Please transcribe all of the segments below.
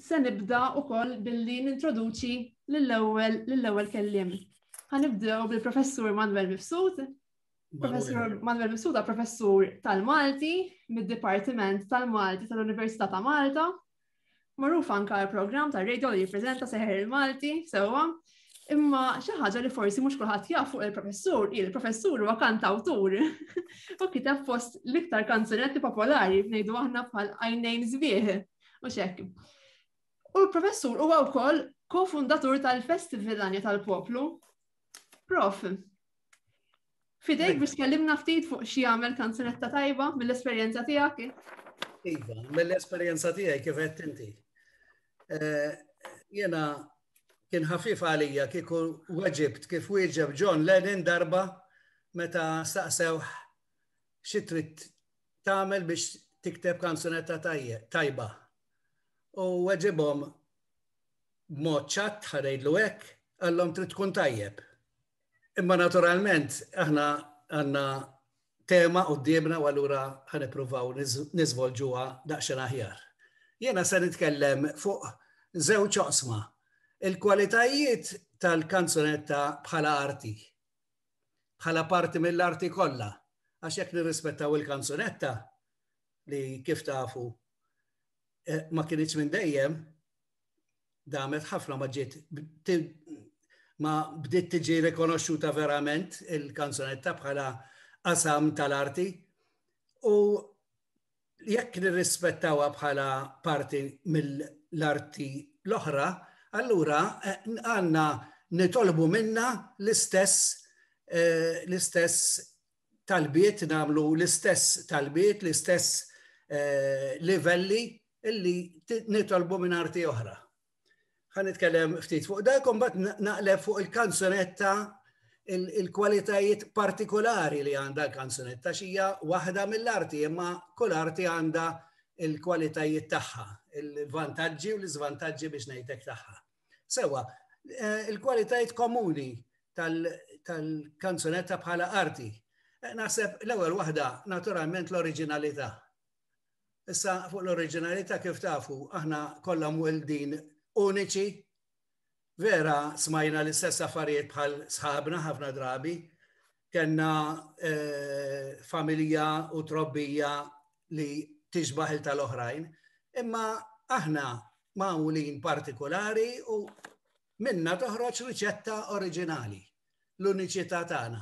Se nibda wkoll billi nintroduċi lill-ewwel lill-ewwel kelliem. Ħanibdew bil-Professur Manuel Mifsud. Professur Manuel Mifsud professur tal-Malti mid-Dipartiment tal-Malti tal-Università ta' Malta Magħruf anka l-programm ta' radio li jippreżenta seħer il-Malti, sewwa, imma xi ħaġa li forsi mhux kulħadd jaf fuq il-professur, il-professur huwa kantawtur. U kiteb fost l-iktar kanzunetti popolari ngħidu aħna bħal għajnejn żbieħ u xekk. U l-professur huwa wkoll kofundatur tal-Festival Anja tal-Poplu. Prof, Fidejk biex tkellimna ftit fuq xi għamel kanzunetta tajba mill-esperjenza tiegħek. Iva, mill-esperjenza tiegħi kif qed inti. Eh, jena kien ħafif għalija kieku weġibt kif wieġeb John Lennon darba meta staqsew xi trid tagħmel biex tikteb kanzunetta tajba. U weġibhom b'mod ċatt ħarejdlu hekk għallhom trid tkun tajjeb. Imma naturalment, aħna għanna tema u d-diemna u għallura ħanipruvaw nizvolġuwa daqxen aħjar. Jena se nitkellem fuq zew ċoqsma. Il-kwalitajiet tal-kanzunetta bħala arti, bħala parti mill-arti kollha, għax jekk nirrispettaw il-kanzunetta li kif tafu eh, ma kienieċ minn dejjem, damet ħafna ma ġiet ma bdiet tiġi rikonoxxuta verament il-kanzunetta bħala qasam tal-arti u jekk nirrispettawha bħala parti mill-arti l-oħra, allura eh, għanna nitolbu minna l-istess eh, l-istess talbiet namlu l-istess talbiet, l-istess eh, livelli illi nitolbu minn arti oħra. Ħan nitkellem ftit fuq dak, bat naqleb fuq il-kanzunetta il-kwalitajiet partikolari li għanda l-kanzunetta xija waħda mill-arti, imma kull arti għanda il-kwalitajiet tagħha, il-vantaġġi u l-iżvantaġġi biex ngħidlek tagħha. Sewa, eh, il-kwalitajiet komuni tal-kanzunetta bħala arti. Eh, naħseb l-ewwel waħda naturalment l-oriġinalità. Issa fuq l-oriġinalità kif tafu, aħna kollha mweldin uniċi. Vera smajna l-istess affarijiet bħal sħabna ħafna drabi. Kenna eh, familja u trobbija li tiġbaħ il tal-oħrajn. Imma aħna mawlin partikolari u minna toħroġ riċetta oriġinali, l-uniċità tagħna.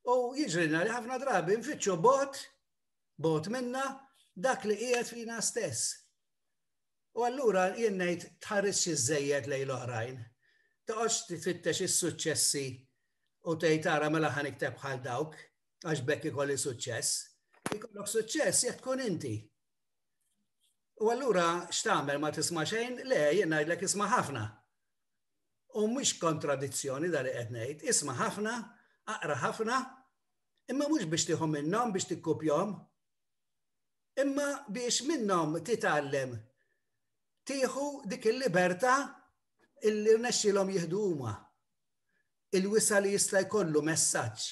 U jiġrina li ħafna drabi nfittxu bot bot minna dak li qiegħed fina stess. U allura jien ngħid tħares xi żejjed lejn l-oħrajn. Toqgħodx titfittex is-suċċessi u tgħid tara mela ħan ikteb bħal dawk għax bekk ikolli suċċess. Ikollok suċċess jekk tkun inti. U allura x'tagħmel ma tisma' xejn? Le, jien ngħidlek isma' ħafna. U mhux kontradizzjoni dali qed ngħid, isma' ħafna, aqra ħafna, imma mhux biex tieħu minnhom biex tikkupjahom, imma biex minnhom titgħallem tieħu dik il-libertà illi rnexxilhom jieħdu huma il-wisa li jista' jkollu messaġġ.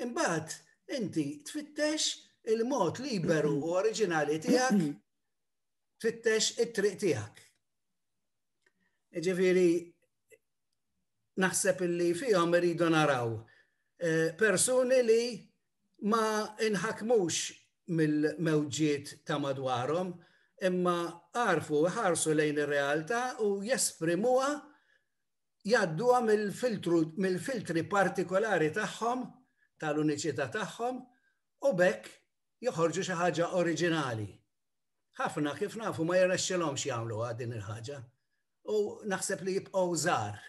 Imbagħad inti tfittex il-mod liberu u oriġinali tiegħek, tfittex it-triq tiegħek. Ġifieri naħseb illi fihom iridu naraw eh, persuni li ma inħakmux mill-mewġiet ta' madwarhom, imma għarfu ħarsu lejn ir-realtà u jesprimuha jadduha mill-filtri partikolari tagħhom, tal-uniċità tagħhom, u bekk joħorġu xi ħaġa oriġinali. Ħafna kif nafu ma jirnexxilhomx jagħmluha din il-ħaġa. U naħseb li jibqgħu żgħar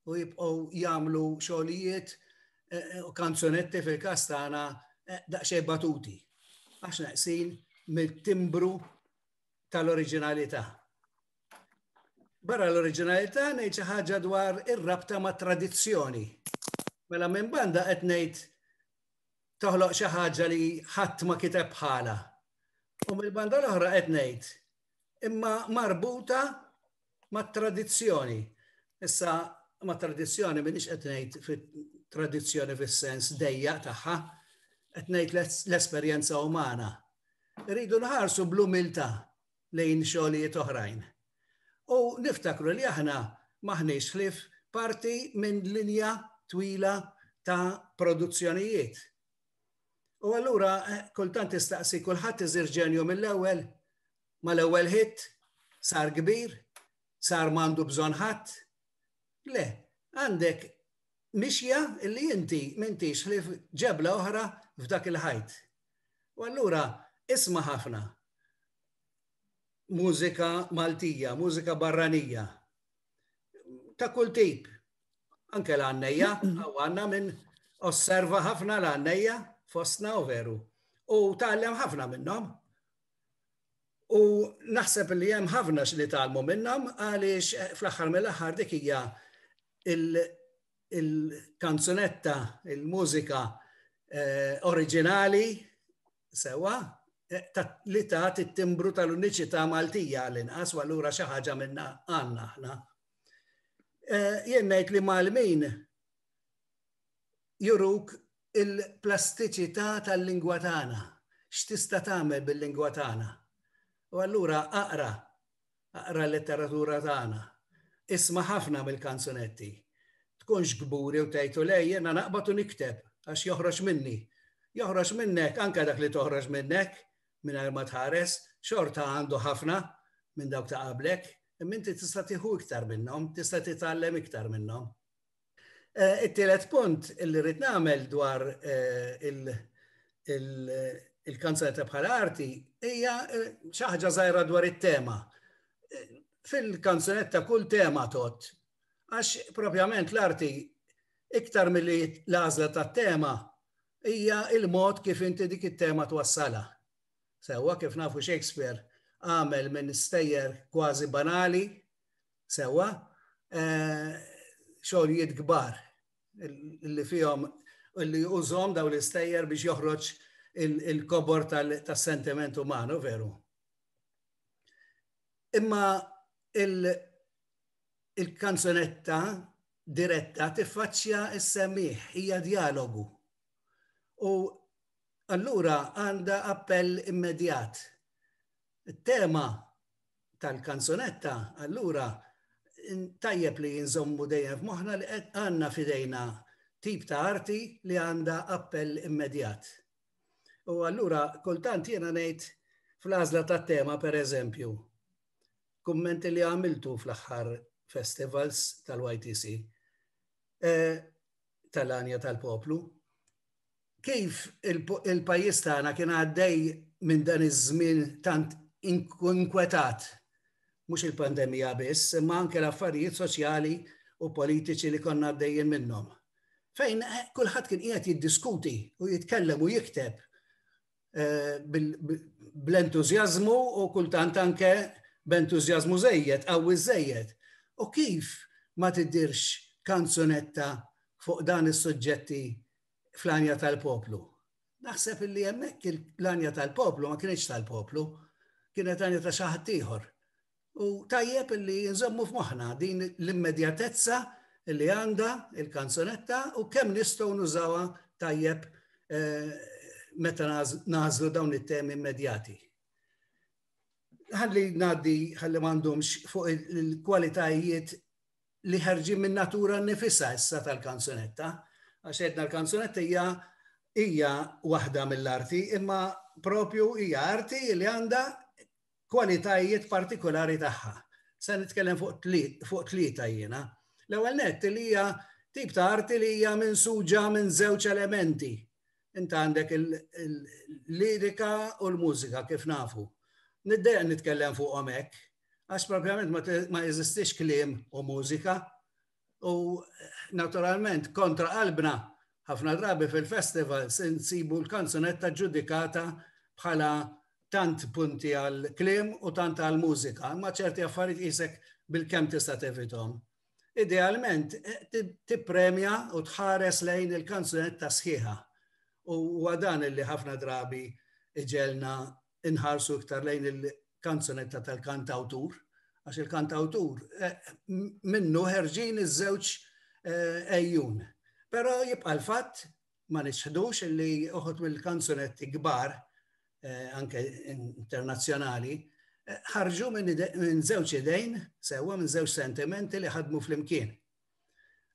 u jibqgħu jagħmlu xogħlijiet eh, u kanzonetti fil-każ tagħna eh, daqsxejn batuti. Għax naqsin mill-timbru tal-oriġinalità. Barra l-oriġinalità ngħid xi ħaġa dwar ir-rabta ma' tradizzjoni. Mela minn banda qed ngħid toħloq xi ħaġa li ħadd ma kiteb bħala. U mill-banda l-oħra qed ngħid imma marbuta ma' tradizzjoni. Issa ma' tradizzjoni minix qed ngħid fit-tradizzjoni fis-sens dejja tagħha, qed ngħid l-esperjenza umana. Rridu nħarsu bl-umiltà lejn xogħlijiet oħrajn. U niftakru li aħna maħniex ħlif parti minn linja twila ta' produzzjonijiet U allura eh, kultant istaqsi kulħadd iżir ġenju mill-ewwel, mal-ewwel hit, sar kbir, sar mandu bżonn ħadd. Le, għandek mixja li inti mintix li ġebla oħra f'dak il-ħajt. U allura isma' ħafna mużika Maltija, mużika barranija, ta' kull tip, Anke l-għannejja, għaw għanna minn osserva ħafna l-għannejja fostna u veru. U tgħallem ħafna minnhom. U naħseb li hemm ħafna li tgħallmu minnhom għaliex eh, fl-aħħar mill-aħħar dik hija il-kanzunetta, il-mużika eh, oriġinali sewa eh, li ta' it-timbru tal-uniċità Maltija l-inqas u allura xi ħaġa minna għandna aħna. Eh, jien ngħid li Malmin juruk il-plastiċità tal-lingwa tagħna, x'tista' tagħmel bil-lingwa tagħna. U allura aqra, aqra l-letteratura tagħna, isma' ħafna mill-kanzunetti. Tkunx kburi u tgħidu lej jiena naqbad u nikteb għax joħroġ minni. Joħroġ minnek anke dak li toħroġ minnek, mingħajr ma tħares, xorta għandu ħafna minn dawk ta' qablek, imma inti tista' tieħu iktar minnhom, tista' titgħallem iktar minnhom. Eh, it-tielet punt li rrid nagħmel dwar eh, il-kanzunetta bħal arti hija eh, xi ħaġa żgħira dwar it-tema. Fil-kanzunetta kull tema tot, għax propjament l-arti iktar mill-li l-għażla tat-tema hija il-mod kif inti dik it-tema twassala. Sewwa kif nafu Shakespeare għamel minn stejjer kważi banali, sewwa, eh, xogħlijiet kbar li fihom li użhom daw l-istejjer biex joħroġ il-kobor tas-sentiment umanu, veru. Imma il-kanzunetta diretta tiffaċċja s-semmiħ, hija djalogu. U allura għandha appell immedjat. Tema tal-kanzunetta allura tajjeb li jinżommu dejjem f'moħħna li qed għandna fidejna tip ta' arti li għandha appell immedjat. U allura kultant jiena ngħid fl-għażla tat-tema pereżempju, kummenti li għamiltu fl-aħħar festivals tal-YTC eh, tal-anja tal-poplu. Kif il-pajis tagħna kien għaddej minn dan iż-żmien tant inkwetat mhux il-pandemija biss, imma anke l-affarijiet soċjali u politiċi li konna għaddejjin minnhom. Fejn eh, kulħadd kien qiegħed jiddiskuti u jitkellem u jikteb bl-entużjażmu u kultant anke b'entużjażmu żejjed, qawwi żejjed. U kif ma tidhirx kanzunetta fuq dan is-suġġetti fl-għanja tal-poplu? Naħseb li hemmhekk l-għanja tal-poplu ma kienx tal-poplu, kienet għanja ta' xi ħadd ieħor. U tajjeb li nżommu f'moħħna din l-immedjatezza li għanda il-kanzunetta u kemm nistgħu nużawa tajjeb eh, meta nażlu dawn it-temi immedjati. Ħalli ngħaddi ħalli m'għandhomx fuq il-kwalitajiet li ħarġin minn natura nifisa issa tal-kanzunetta, għax edna l-kanzunetta hija hija waħda mill-arti, imma propju hija arti li għandha kwalitajiet partikolari tagħha. Se nitkellem fuq tlieta jiena. L-ewwel nett li hija tip ta' arti li hija minsuġa minn żewġ elementi. Int għandek il-lirika u l-mużika kif nafu. Niddeja nitkellem fuqhom hekk, għax propjament ma jeżistix kliem u mużika, U naturalment kontra qalbna ħafna drabi fil-festival se nsibu l-kanzunetta ġudikata bħala tant punti għal klim u tant għal mużika, ma ċerti affarijiet jisek bil-kem tista' tevitom. Idealment, tippremja u tħares lejn il-kanzunetta sħiħa. U għadan li ħafna drabi iġelna inħarsu iktar lejn il-kanzunetta tal-kantawtur, għax il-kantawtur eh, minnu ħerġin iż-żewġ eh, ejjun. Però jibqa' l-fatt ma nisħdux li uħut mill-kanzunetti kbar, eh, anke internazzjonali, ħarġu minn żewġ idejn, sewa minn żewġ sentimenti li ħadmu fl-imkien.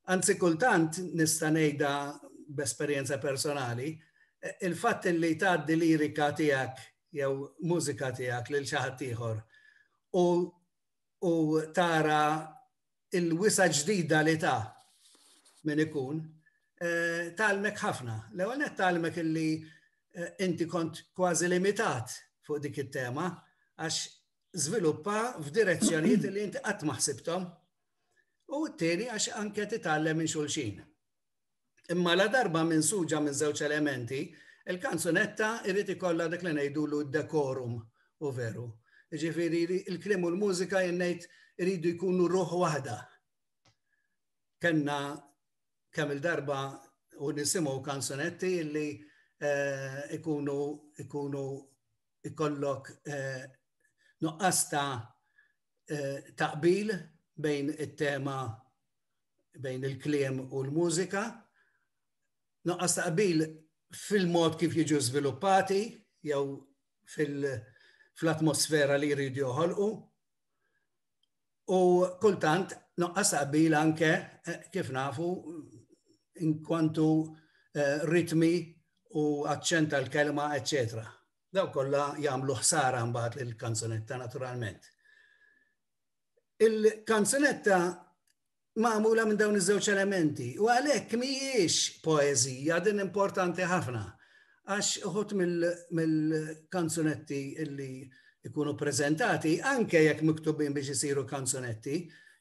Anzi kultant nista' ngħidha b'esperjenza personali, il-fatt li tgħaddi lirika tiegħek jew mużika tiegħek lil xi ħadd ieħor u u tara il-wisa ġdida li ta' min ikun, eh, talmek ħafna. L-ewwel talmek illi eh, inti kont kważi limitat fuq dik it-tema għax żviluppa f'direzzjonijiet li inti qatt ma ħsibthom. U t-tieni għax anke titgħallem minn xulxin. Imma la darba minn suġa minn żewġ elementi, il-kanzunetta irrid ikollha dik li ngħidulu dekorum u veru. Ġifieri il-krim u l-mużika jennejt iridu jkunu ruħ waħda. Kenna kemm il-darba u nisimgħu kanzunetti illi eh, ikunu ikunu ikollok eh, nuqqas ta' eh, taqbil bejn it-tema bejn il-kliem u l-mużika, noqqas taqbil fil-mod kif jiġu żviluppati jew fil-atmosfera li jridu joħolqu. U kultant noqqas taqbil anke eh, kif nafu inkwantu eh, ritmi u aċċent tal-kelma, eccetera. daw kollha jagħmlu ħsara mbagħad lill-kanzunetta naturalment. Il-kanzunetta magħmula minn dawn iż-żewġ elementi u għalhekk mhijiex poeżija din importanti ħafna għax uħut mill-kanzunetti illi ikunu prezentati, anke jekk miktubin biex isiru kanzunetti,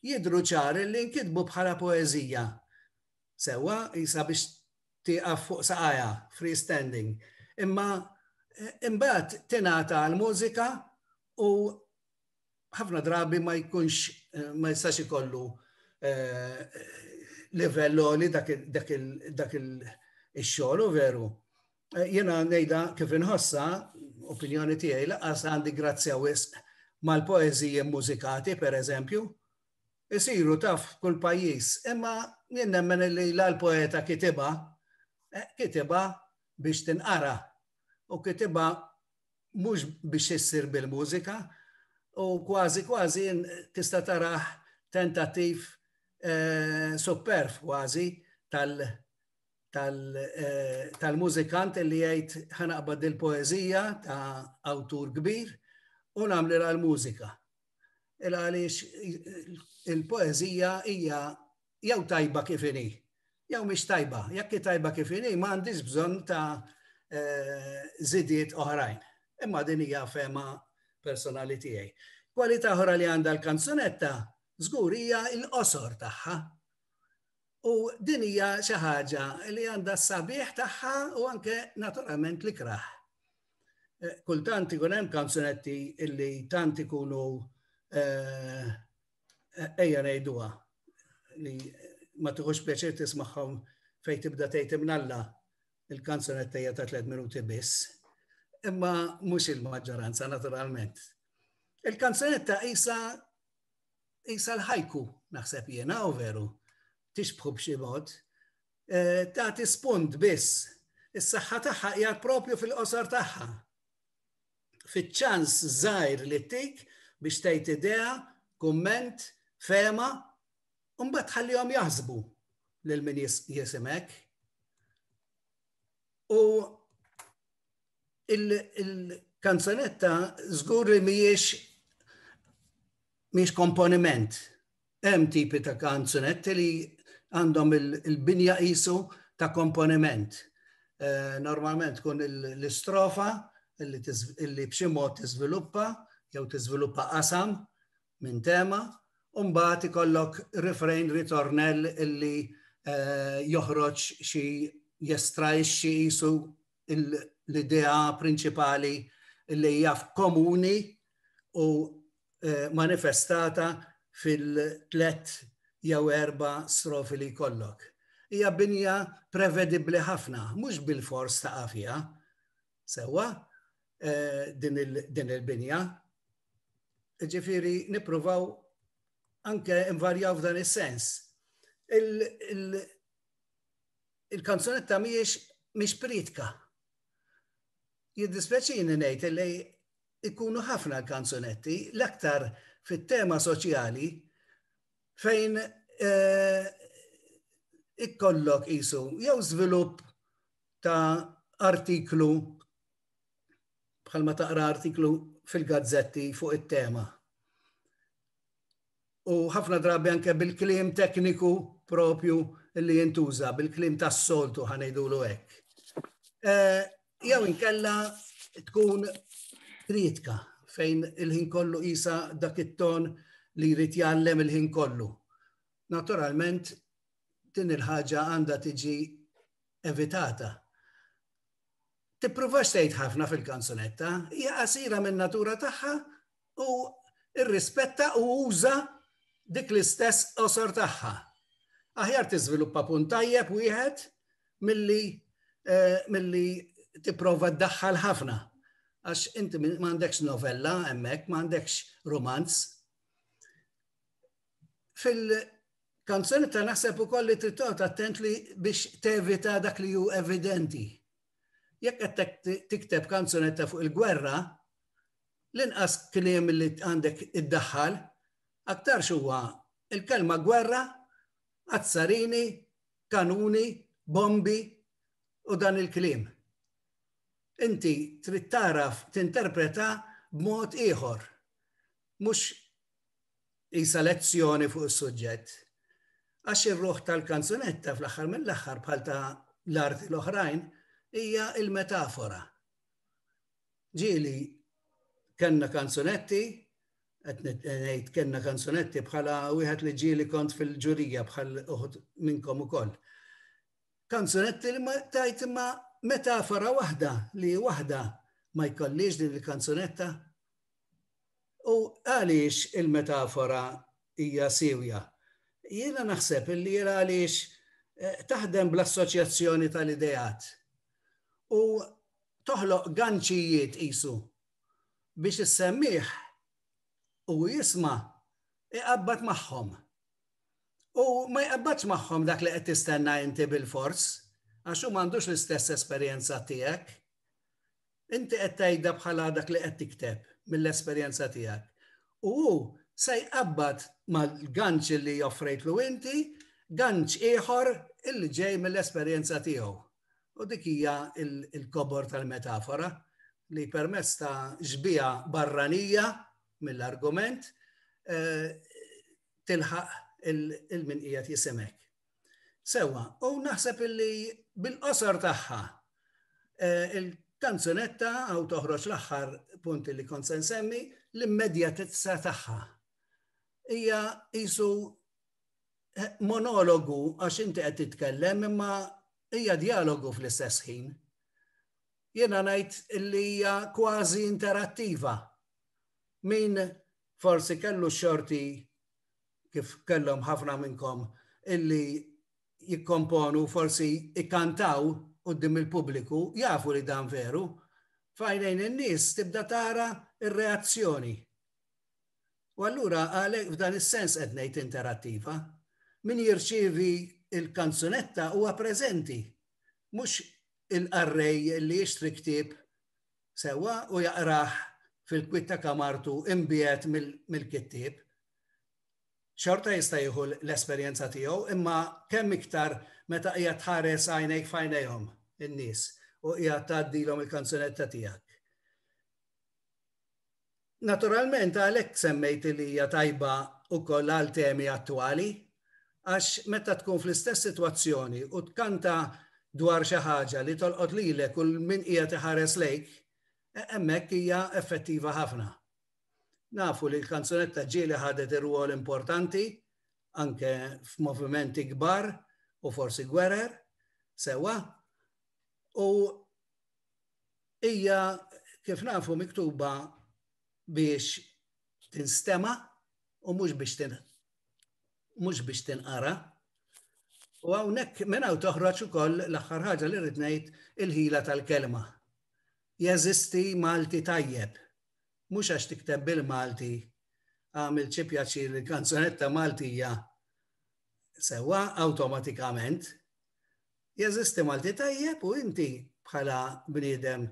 jidru ċar li nkitbu bħala poezija. Sewa, jisa biex tieqaf fuq saqajha free standing. Imma imbagħad tingħata għal mużika u ħafna drabi ma jkunx ma jistax ikollu livell li dak il-xogħol u veru. Jena nejda kif inħossa, opinjoni tiegħi laqas għandi grazzja wisq mal-poeżiji mużikati, per eżempju, isiru taf kull pajjiż, imma jien nemmen li la l-poeta kitiba, eh, kitiba biex tinqara u kitiba mhux biex issir bil-mużika u kważi kważi tista' taraħ tentattiv eh, superf kważi tal- eh, tal-mużikant tal li jgħid ħanaqbad il-poezija ta' awtur kbir u nagħmlilha l-mużika. il għaliex il-poezija hija jew tajba kif inhi, jew mhix tajba, jekk tajba kif inhi ma għandix bżonn ta' eh, zidiet oħrajn. Imma din hija fema personali tiegħi. Kwalità oħra li għandha l-kanzunetta żgur hija l-qosor tagħha. U din hija xi ħaġa li għandha s-sabiħ tagħha u anke naturalment li kraħ. Eh, kultant ikun hemm kanzunetti illi tant ikunu eh, ejja ngħiduha li ma tħux pjaċir tismagħhom fejn tibda tgħid imnalla il-kanzunetta hija ta' 3 minuti biss. Imma mhux il-maġġoranza naturalment. Il-kanzunetta isa jisa l-ħajku, naħseb jena u veru, tixbħu b'xi mod, eh, ta' tispund biss, is-saħħa tagħha hija propju fil-qosor tagħha. Fiċ-ċans żgħir li tik biex tgħid idea, kumment, fema, u mbagħad tħallihom jaħsbu lil min jisimek. U il-kanzonetta żgur li mhijiex mhijiex komponiment. Hemm tipi ta' kanzunetti li għandhom il-binja qisu ta' komponiment. Eh, normalment tkun l-istrofa illi b'xi mod tiżviluppa jew tiżviluppa qasam minn tema, u mbagħad ikollok refrain ritornell illi eh, joħroġ xi jestrajxxi qisu l-idea prinċipali li hija komuni u eh, manifestata fil-tlet jew erba strofi li kollok. Hija binja prevedibbli ħafna, mhux bil-fors ta' għafija, sewa eh, din il-binja. Ġifiri, nipruvaw anke invarjaw f'dan is-sens. il-kanzunetta miex miex pritka. Jiddispjaċini ngħid li ikunu ħafna l-kanzunetti l-aktar fit-tema soċjali fejn eh, ikkollok isu jew żvilupp ta' artiklu bħalma taqra artiklu fil-gazzetti fuq it-tema. u ħafna drabi anke bil-kliem tekniku propju li jintuża, bil-kliem tas-soltu ħanejdulu hekk. Eh, jew inkella tkun kritika fejn il-ħin kollu isa dak it-ton li jrid jgħallem il-ħin kollu. Naturalment, din il-ħaġa għandha tiġi evitata. Tipprova xtejt ħafna fil-kanzunetta, hija qasira minn natura tagħha u rrispetta u uża dik l-istess qosor tagħha. Aħjar tiżviluppa punt tajjeb wieħed milli eh, milli tipprova ddaħħal ħafna. Għax inti m'għandekx novella hemmhekk, m'għandekx romanz. Fil-kanzoni ta' naħseb ukoll li trid attent li biex tevita dak li hu evidenti. Jekk qed tikteb kanzunetta fuq il-gwerra, l-inqas kliem li għandek iddaħħal, aktarx huwa l-kelma gwerra, azzarini, kanuni, bombi u dan il-kliem. Inti trid tagħraf tinterpreta b'mod ieħor, mhux isa lezzjoni fuq is-suġġett. Għax ir-ruħ tal-kanzunetta fl-aħħar mill-aħħar bħal ta' l-arti l-oħrajn hija il-metafora. ġieli kellna kanzunetti, qed ngħid kellna kanzunetti bħala wieħed li ġieli kont fil-ġurija bħal uħud minnkom ukoll. Kanzunetti li ma tajt imma metafora waħda li waħda ma jkollix din il-kanzunetta. U għaliex il-metafora hija siwja? Jiena naħseb li jena għaliex eh, taħdem bl-assoċjazzjoni tal-idejat. U toħloq ganċijiet qisu biex is-semmiegħ u jisma' iqabbad magħhom. U ma jqabbadx magħhom dak li qed tistenna inti bilfors, għax hu m'għandux l-istess esperjenza tiegħek. Inti qed tgħidha bħala dak li qed tikteb mill-esperjenza tiegħek. U hu se jqabbad mal-ganċ li joffrejtlu inti, ganċ ieħor illi ġej mill-esperjenza tiegħu. U dik hija il-kobor tal-metafora li permess ta' xbija barranija mill-argument eh, tilħaq il-min qiegħed jisimek. Sewa, u naħseb illi bil-qosor tagħha eh, il-kanzunetta għaw toħroġ l-aħħar punti li kont semmi l-immedjatezza tagħha. Hija isu eh, monologu għax inti qed titkellem imma hija dialogu fl-istess ħin. Jiena ngħid li hija kważi interattiva. Min forsi kellu xorti kif kellhom ħafna minnkom illi jikkomponu forsi ikkantaw qoddim il-pubbliku, jafu li dan veru, fajnejn in-nies tibda tara ir-reazzjoni. U allura għalhekk f'dan is-sens qed ngħid interattiva. Min jirċievi l-kanzunetta huwa preżenti, mhux il-qarrej li jixtri ktieb sewwa u jaqrah fil-kwiet ta' kamartu imbiegħed mill-kittieb. Xorta jista' jieħu l-esperjenza tiegħu, imma kemm iktar meta qiegħed tħares għajnejk f'għajnejhom in-nies u qiegħed tgħaddilhom il-kanzunetta tiegħek. Naturalment għalhekk semmejt li hija tajba wkoll għal temi attwali, għax meta tkun fl-istess sitwazzjoni u tkanta dwar xi ħaġa li tolqot lilek u 'l min qiegħed iħares lejk, hemmhekk hija effettiva ħafna. Nafu li l-kanzunetta ġieli ħadet irwol importanti anke f'movimenti kbar u forsi gwerer, sewwa, u hija kif nafu miktuba biex tinstema u mhux biex tin mhux biex tinqara. U hawnhekk minn hawn toħroġ ukoll l-aħħar ħaġa li rrid ngħid il-ħila tal-kelma. Jeżisti Malti tajjeb, mhux għax tikteb bil-Malti għamil xi pjaċir li kanzonetta Maltija sewa awtomatikament Jeżisti Malti tajjeb u inti bħala bniedem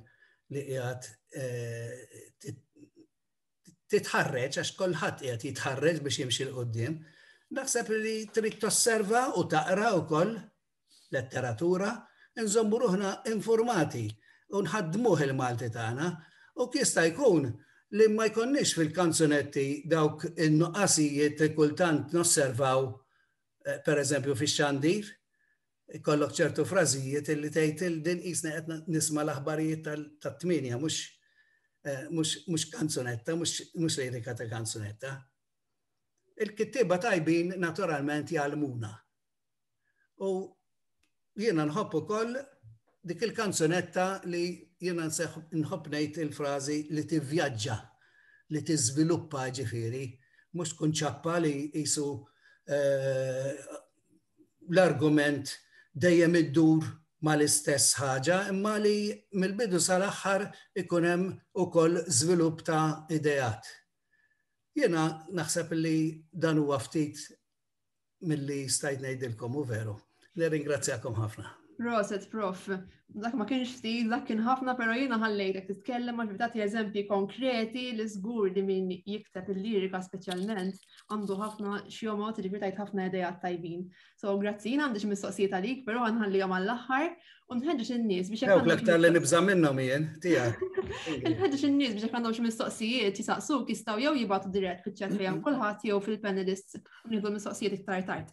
li qiegħed eh, titħarreġ, għax kolħat qiegħed jitħarreġ biex jimxi l-qoddim, naħseb li trid tosserva u taqra wkoll letteratura, nżommu ruħna informati u nħaddmuh il-Malti tagħna u kista jkun li ma jkonniex fil-kanzunetti dawk in-nuqqasijiet li kultant nosservaw eh, per eżempju fix-xandir, kollok ċertu frażijiet illi tgħid il din qisna qed nisma' l-aħbarijiet tat-tmienja mhux eh, mhux kanzunetta, mhux lirika ta' kanzunetta. Il-kittieba tajbin naturalment jgħalmuna. U jiena nħobb ukoll dik il-kanzunetta li jiena nħobb ngħid il-frażi li tivvjaġġa, li tiżviluppa ġifieri, mhux tkun ċappa li jisu eh, l-argument dejjem iddur mal-istess ħaġa, imma li mill-bidu sal-aħħar ikun hemm ukoll żvilupp ta' ideat. Jiena naħseb li dan huwa ftit milli stajt ngħidilkom u veru. Nirringrazzjakom ħafna. Proset, prof. Dak ma kienx stil, dak kien ħafna, pero jiena ħallejtek titkellem għax bidati eżempji konkreti li żgur li min jikteb il-lirika speċjalment għandu ħafna xjomot li tajt ħafna ideja tajbin. So, grazzi, jiena għandix mistoqsijiet għalik, pero għanħallijom għall-aħħar u nħedġeġ in-nies biex jekk. l-aktar li nibża minnhom jien, tiegħek. Nħedġeġ in-nies biex jekk għandhom xi mistoqsijiet jisaqsuk jistgħu jew jibgħatu dirett fiċ-ċat fejn kulħadd jew fil-panelists Nieħdu mistoqsijiet iktar tard.